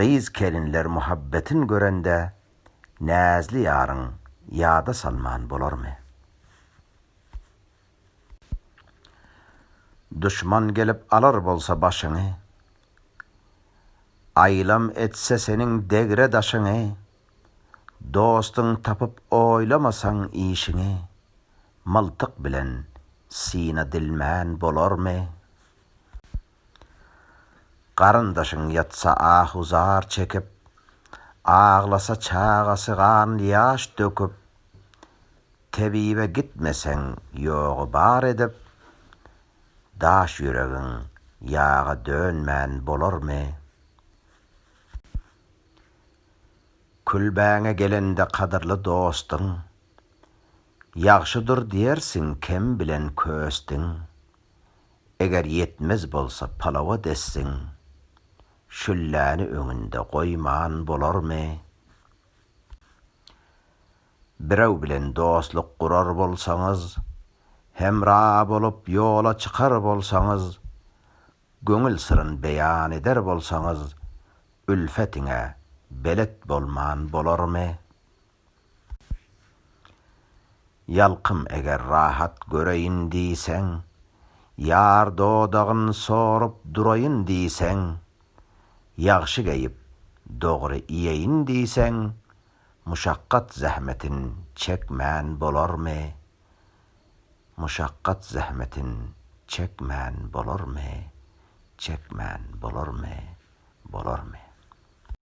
Gyz-kelinler muhabbetin görende, näzli ýaryn ýada salman bolarmy? Duşman gelip alar bolsa başyňy, aýlam etse seniň degre daşyňy, dostun tapyp oýlamasaň işiňi, myltyk bilen syna dilman bolarmy? Garyndaşyň ýatsa ahu-zar çekip, Aglasa çagasy gan-ýaş döküp, Tebibe gitmeseň ýogy bar edip, Daş ýüregiň ýaga dönmän bolarmy? Külbäňe gelende kadyrly dostyň, Ýagşydyr diýersiň kem bilen köstiň. Eger ýetmez bolsa palawa dessin, şülläni öňünde goýman bolarmy? Birew bilen dostluk gurar bolsaňyz, hemra bolup ýola çykar bolsaňyz, göňül syryn beýan eder bolsaňyz, ülfetiňe belet bolman bolarmy? Ýalkym eger rahat göreýin diýseň, Ýar dodagyn sorup duraýyn diýseň, Ýagşy geýip, dogry iýeýin diýseň, Muşakgat-zähmetin çekmän bolarmy? Muşakgat-zähmetin çekmän bolarmy? Çekmän bolarmy? Bolarmy?